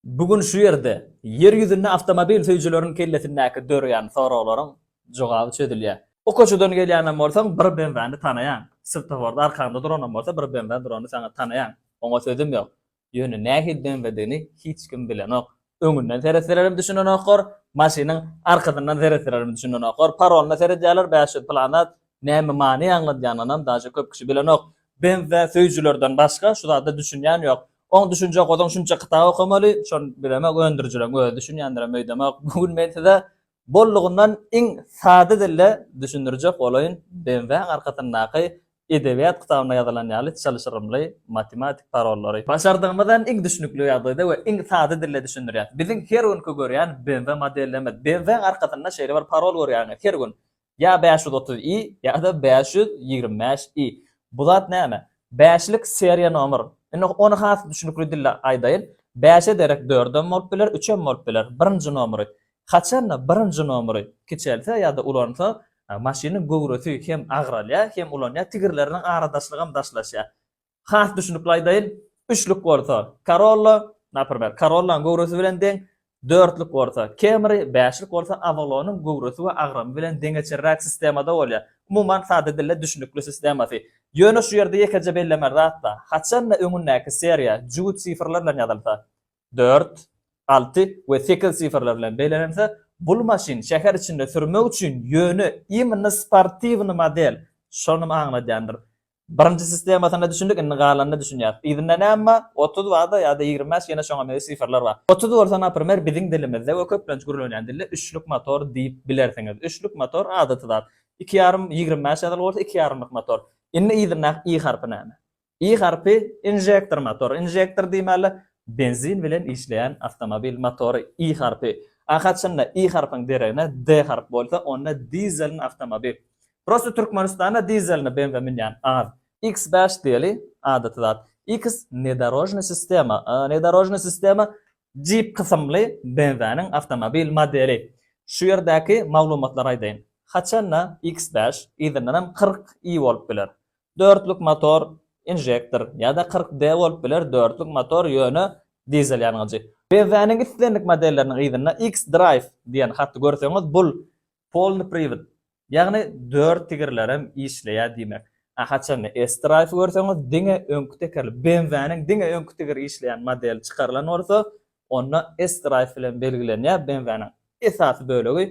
Bu gün şu ýerde Ýer ýüzünde awtomobil söýüjileriň kellesindäki döreýän soraglaryň jogaby çözülýär. Bu koçadan gelýänem bolsaň bir BMW-ni tanaýaň. Swtoforda arkaňda duranam bolsa bir BMW durany saňa tanaýaň. Oňa sözüm ýok. Ýöne nähili BMW-digini hiç kim bilenok. Öňünden seretselerem düşünenoklar, maşynyň arkasyndan seretselerem düşünenoklar. Paroluna seredýärler bäş ýüz pylan zat, Näme many aňladýanynam daže köp kişi bilenok. Benzä söýüjilerden başga şu zada düşünýän ýok. Oň düşünjek bolsaň şunça kitap okamaly, şony bilemok öndürijileň özi düşünýändirem öýdemok. Bu gün men size bollugyndan iň sada dilde düşündirjek bolaýyn, Benzäň arkasyndaky edebiýat kitabynda ýazylan ýaly çylşyrymly matematik parollary. Başardygymyzdan iň düşnükli ýagdaýda we iň sada dilde düşündirýäs. Biziň her günki görýän Benza modelimiz. Benzäň arkasynda şeýle bir parol görýäňiz her gün. Ýa bäş ýüz otuz i, ýa-da bäş ýüz ýigrimi bäş i. Bu zat näme? Bäşlik seriýa nomer. Indi ony has düşnükli dilde aýdaýyn. Bäşe derek dördem bolup biler, üçem bolup biler. Birinji nomery. Haçanda birinji nomery kiçelse ýa-da ulansa, maşynyň göwresi hem agralýar, hem ulanýar, tigirleriniň aradaşlygam daşlaşýar. Has düşünikli aýdaýyn, üçlük bolsa Corolla, naprimer, Corolla-nyň göwresi bilen deň, dörtlük bolsa Camry, bäşlik bolsa Avalon-yň göwresi we agramy bilen deňeçerräk sistemada bolýar. Umuman, sada dilde düşünikli sistemasy. Ýöne şu ýerde ýekeje bellemeli zat-da, haçan-da öňündäki seriýa jübüt sifrler bilen ýazylsa, dört, alty we sekiz sifrler bilen bellenilse, bul maşyn şäher içinde sürmek üçin ýöne imенно sportiwnyý model, şonumy aňladýandyr. Birinji sistemasyna düşündik indi galanyna düşünýäs. Yzynda näme bar? Otuz bar-da ýa-da ýigrimi bäş ýene şoňa meňzeş siferler bar. Otuz bolsa naprimer biziň dilimizde we köplenç gürlenýän dilde üçlük motor diýip bilersiňiz. Üçlük motor adaty zat. Iki ýarym ýigrimi bäş ýazyly bolsa iki ýarymlyk motor. Indi yzyndaky i harpy näme? I harpy injektor motor. Injektor diýmäli benzin bilen işleýän awtomobil motory i harpy. A haçanda i harpyň deregine d harpy bolsa onda dizeln awtomobil. Prosta Türkmenistanda dizelne benza münýän az. Iks bäş diýeli, adaty zat. Iks nedorožnyý sistema, nedorožnyý sistema Jeep kysymly benzanyň awtomobil modeli. Şu ýerdäki maglumatlary aýdaýyn. Haçanda Iks bäş, yzyndanam kyrk i bolup biler. Dörtlük motor, inžektor, ýa-da kyrk d bolup biler, dörtlük motor, ýöne dizel ýangyjy. Benzanyň islendik modelleriniň yzynda Iks Drive diýen haty görseňiz, bul Polny priwd, ýagny dört tigirlerem işleýär diýmek. A haçanda S-Drive görseňiz diňe öňki tekerli BMW-niň diňe öňki tigiri işleýän modeli çykarylan bolsa, onda S-Drive bilen belgilenýär, BMW-niň esasy bölegi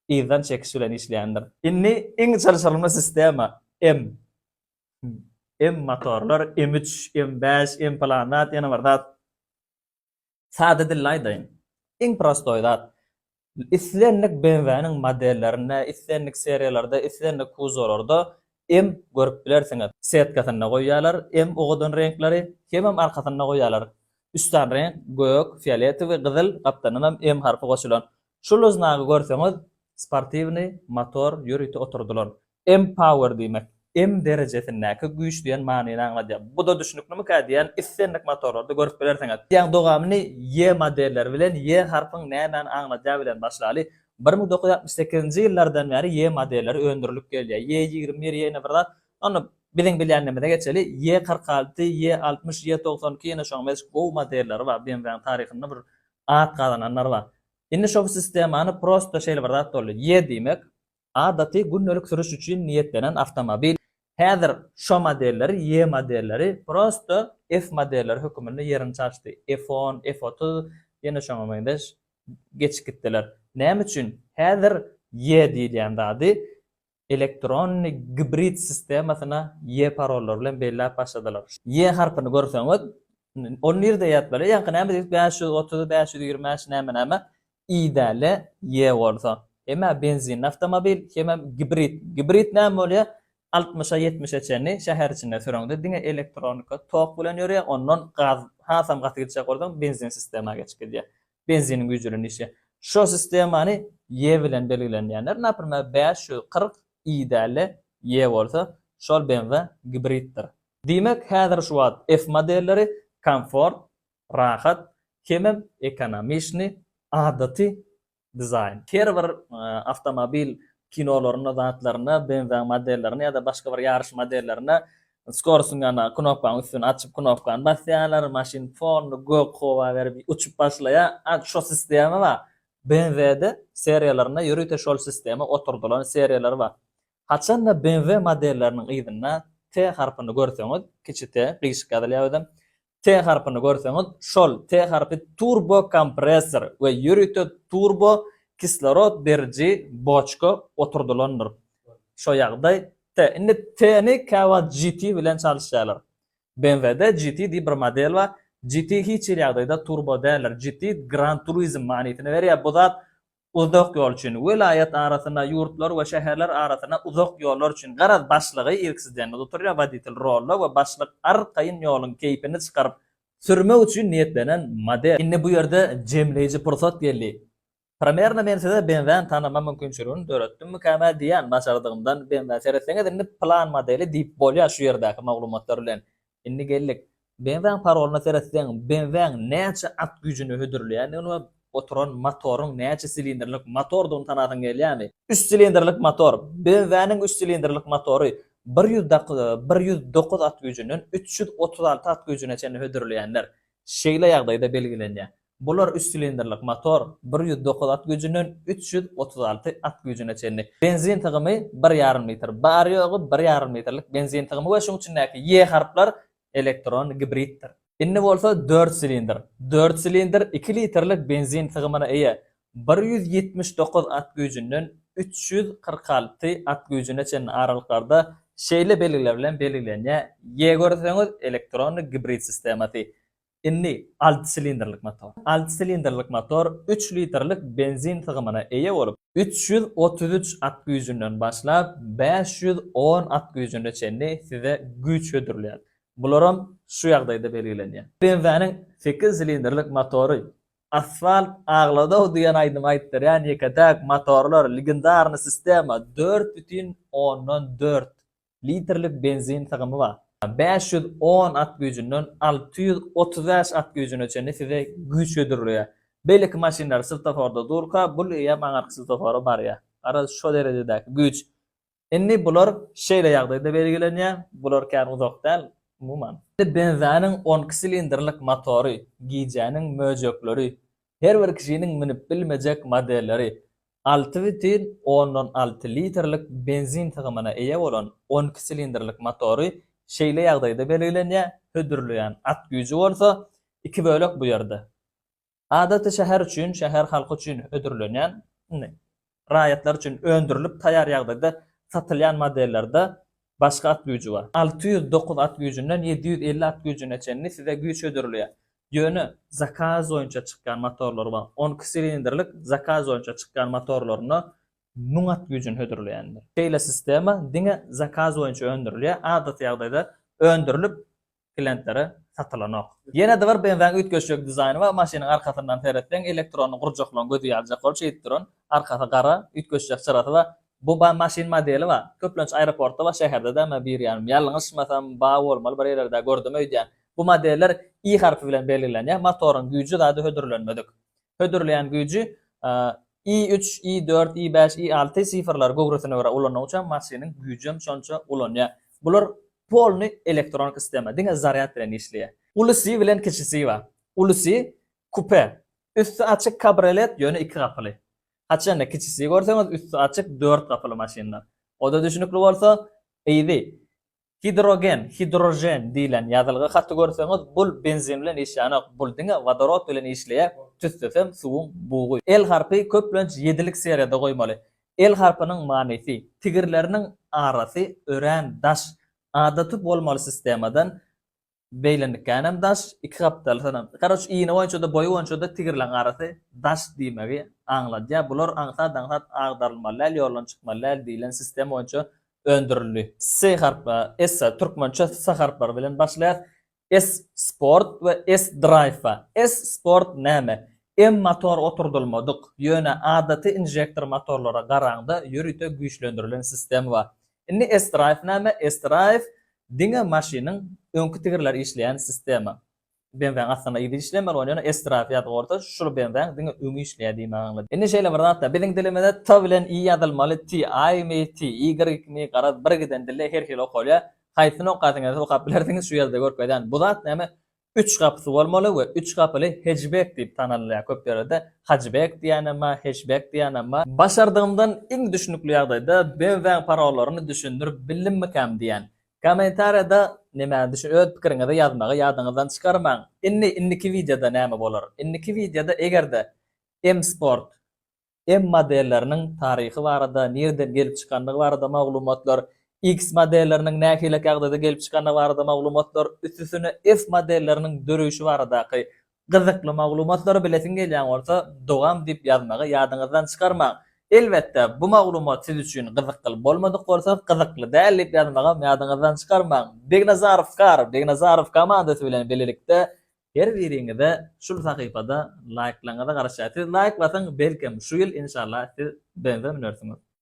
yzdan çekiş bilen işleýändir. Indi iň çalşyrymly sistema, M. M motorlar, M üç, M bäş, M pylan zat, ýene bir zat. Sada dilli aýdaýyn, iň prostoý zat, islendik BMW-niň modellerinde, islendik seriýalarda, islendik kuzowlarda hem görüp bilersiňiz. Setkasynda goýýarlar hem owadan reňkleri, hemem arkasynda goýýarlar. Üstan reňk, gök, fioletowy, gyzyl, gapdanynam M harpy goşulan. Şul znagy görseňiz, sportiwnyý motor ýörite oturdylan. Empower diýmek, em derejesindäki güýç diýen manyny aňladýar. Bu-da düşnüklimikä diýýän, islendik motorlarda görüp bilersiňiz. Diýýän dowamyny ýe modelleri bilen ýe harpyň nämäni aňladýagy bilen başlaly. Bir müň dokuz ýüz altmyş sekizinji ýyllardan bäri ýe modelleri öndürilip gelýär. Ýe ýigrimi bir, ýene bir zat. Onda biziň bilýänimize geçeli. Ýe kyrk alty, ýe altmyş, ýe togsan iki ýene şoň meş gowy modelleri bar. BMW-niň taryhynda bir at gazananlar bar. Indi şo sistemany prosta şeýle bir zat boldy. Ýe diýmek, Adaty gündelik sürüş üçin niýetlenen awtomobil. Häzir şo modelleri, Y modelleri prosto F modelleri höküminde ýerini çalşdy. F-on, F-otuz, ýene şoňa meňzeş geçip gitdiler. Näme üçin? Häzir Y diýilýän zady elektronny gibrid sistemasyna Y parollar bilen belläp başladylar. Y harpyny görseňiz, Ol nirde ýat bala? Ýaňky näme diýdik? Bäş ýüz otuz, bäş ýüz ýigrimi bäş näme-näme? I-däli ýe bolsa. Hem-ä benzinli awtomobil, hemem gibrid. Gibrid näme bolýar? Altmyşa, ýetmişe çenli şäher içinde süreňde diňe elektronika, tok bilen ýörýär, ondan gaz hasam gaty gidişek bolsaň, benzin sistema geçip gidýär. Benziniň güýji bilen işleýär. Şo sistemany ýe bilen belgilen diýenler, naprimer, bäş ýüz kyrk i-däli ýe bolsa, şol BMW gibriddir. Diýmek, häzir şu wagt F modelleri komfort, rahat, hemem ekonomiçni, adaty dizaýn. Her bir awtomobil kinolarynda zatlarynda BMW modellerinde ýa-da başga bir ýaryş modellerinde skorostyň ýanyna knopkaň üstüni açyp knopkany basýarlar, maşyn polny gök howa berip uçup başlaýar. A şo sistema bar. BMW-de seriýalarynda ýörite şol sistema oturdylan seriýalary bar. Haçanda BMW modelleriniň yzynda T harpyny görseňiz, kiçi T, gyşyk ýazylýar özem, T harpyny görseňiz, şol T harpy turbokompressor we ýörite turbo kislorod beriji boçka oturdylandyr. Şo ýagdaý T. Indi T-ni käwagt GT bilen çalyşýarlar. BMW-de GT diýip bir model bar. GT hiç hili ýagdaýda turbo däldir. GT Gran Turism manysyny berýär. Bu zat uzak ýol üçin, welaýat arasyna, ýurtlar we şäherler arasyna uzak ýollar üçin, garaz, başlygy irkisidenli oturýar, woditel rolda we başlyk arkaýyn ýoluň keýpini çykaryp sürmek üçin niýetlenen model. Indi bu ýerde jemleýji pursat geldi. Primerno men size BMW-ni tanama mümkinçiligini döretdimmikäm-ä diýýän, başardygymdan BMW. Seretseňiz, indi plan modeli diýip bolýar şu ýerdäki maglumatlar bilen. Indi geldik. BMW-niň parolyna seretseniň, BMW-niň näçe at güýjüni hödürleýändigini we oturan motoryň näçe silindrlik motordygyny tanasyň gelýärmi? Üç silindrlik motor. BMW-niň üç silindrlik motory bir ýüz bir ýüz dokuz at güýjünden üç ýüz otuz alty at güýjüne çenli hödürleýändir. Şeýle ýagdaýda belgilenýär. Bular üç silindrlik motor, bir ýüz dokuz at güýjünden üç ýüz otuz alty at güýjüne çenli. Benzin sygymy bir ýarym litr, bary-ýogy bir ýarym litrlik benzin sygymy we şuň içindäki ýe harplar elektron gibriddir. Indi bolsa dört silindr. Dört silindr iki litrlik benzin sygymyna eýe, bir ýüz ýetmiş dokuz at güýjünden üç ýüz kyrk alty at güýjüne çenli aralyklarda şeýle belgiler bilen belgilenýär, ýe görseňiz, elektron gibrid sistemasy, Indi alty silindrlik motor. Alty silindrlik motor üç litrlik benzin sygymyna eýe bolup, üç ýüz otuz üç at güýjünden başlap, bäş ýüz on at güýjüne çenli size güýç hödürleýär. Bularam şu ýagdaýda belgilenýär. BMW-niň sekiz silindrlik motory Asfalt agladaw diýen aýdymy aýtdyrýan ýeke-täk motorlar Legendarny sistema dört bütin ondan dört litrlik benzin sygymy bar. Bäş ýüz on at güýjünden alty ýüz otuz bäş at güýjüne çenli size güýç hödürleýär. Beýleki maşynlar swtoforda durka, bul eýýäm aňyrky swtofora barýar. Garaz, şo derejedäki güýç. Indi bular şeýle ýagdaýda belgilenýär, bular kän uzak däl, umuman. Benziniň on iki silindrlik motory, gijäniň möjekleri, her bir kişiniň münüp bilmejek modelleri, Alty bütin ondan alty litrlik benzin sygymyna eýe bolan on iki silindrlik motory şeýle ýagdaýda belgilenýär, hödürleýän at güýji bolsa, iki bölek bu ýerde. Adaty şäher üçin, şäher halky üçin hödürlenýän, indi, raýatlar üçin öndürilip taýar ýagdaýda satylýan modellerde Başga at güýji bar. Alty ýüz dokuz at güýjünden ýedi ýüz elli at güýjüne çenli size güýç hödürilýär. Ýöne zakaz boýunça çykýan motorlar bar. On iki silindrlik zakaz boýunça çykýan motorlaryna müň at güýjüni hödürleýändir. Şeýle sistema diňe zakaz boýunça öndürilýär. Adaty ýagdaýda öndürilip, klientlere satylanok. Ýene-de bir benzaň üýtgeşjek dizaýny bar, maşynyň arkasyndan seretseň, elektronly gurjaklaryň gözi ýaljak bolup şeýdip duran, arkasy gara, üýtgeşjek çyrasy bar. Bu bar maşyn modeli bar. Köplenç aeroportda bar, şäherde däl, men birýanym, ýalňyşmasam, bar bolmaly, bir ýerlerde gördüm öýdýän. Bu modeller I harpy bilen belgilenýär, motoryň güýji zady hödürlenmedik. Hödürleýän güýji I üç, I dört, I bäş, I alty sifrlary göwresine görä ulananyňça maşynyň güýjem şonça ulanýar. Bular polny elektronik sistema, diňe zarýad bilen işleýär. Ulusy bilen kiçisi bar. Ulusy kupe, üsti açyk kabriolet, ýöne iki gapyly. Haçanda kiçisi görseňiz üsti açyk dört gapyly maşynlar. Oda düşnükli bolsa, Easy, Gidrogen, hidrožen, diýlen ýazylgy haty görseňiz, bul benzin bilen işýänok, bul diňe wodorod bilen işleýär, tüssesem suwuň bugy. L harpy köplenç ýedilik seriýada goýmaly. L harpynyň manysy, tigirleriniň arasy örän daş, adaty bolmaly sistemadan Beýlendikkänem daş, iki gapdaly synam. Karoç iýni boýunça-da, boýy boýunça-da tigirleň garysy daş diýmegi aňladýar. Bular aňsat-aňsat agdarylmaly däl, ýoldan çykmaly däl diýlen sistema boýunça öndürildi. S harpy, essa, türkmençe s harplary bilen başlaýar. S sport we S drive. S sport näme? M motor oturdylmadyk, ýöne adaty inžektor motorlara garaňda ýörite güýçlendirilen sistema. Indi S-Drive näme? S-Drive diňe maşynyň öňki tigirleri işleýän sistema. BMW-niň aslynda yzy işlemer ony ýöne S-Drive ýazyp goýsa şul BMW-niň diňe öňi işleýär diýmegi aňladýar. Indi şeýle bir zatda biziň dilimizde T bilen Y ýazylmaly T, I mi, T, Y iki mi garaz bir giden dilde her hili okalýar. Haýsyny okasyňyz okap bilersiňiz şu ýerde görkezýän bu zat näme? Üç gapysy bolmaly we üç gapyly hejbek diýip tanalýar. Köp ýerde hajbek diýýänem bar, heşbek diýýänem bar. Başardygymdan iň düşnükli ýagdaýda BMW-iň parollerini düşündirip bildimmikäm diýän. Kommentariýada nimäni düşün öz pikiriňizi ýazmagy ýadyňyzdan çykarmaň. Indi indiki wideoda näme bolar? Indiki wideoda eger-de M-Sport M modelleriniň taryhy barada, nireden gelip çykandygy barada maglumatlar, X modelleriniň nähili kagzyda gelip çykandygy barada maglumatlar, üstesine F modelleriniň döreýşi baradaky gyzykly maglumatlary bilesiň gelýän bolsa, dogam diýip ýazmagy ýadyňyzdan çykarmaň. Elbetde, bu maglumat siz üçin gyzykly bolmadyk bolsa, gyzykly däl diýip ýazmagam ýadyňyzdan çykarmaň. Begnazarow Kar, Begnazarow komandasy bilen bilelikde Her biriňize şul sahypada laýklaryňyza garaşýar. Siz laýk basyň belkem şu ýyl inşallah siz benze münersiňiz.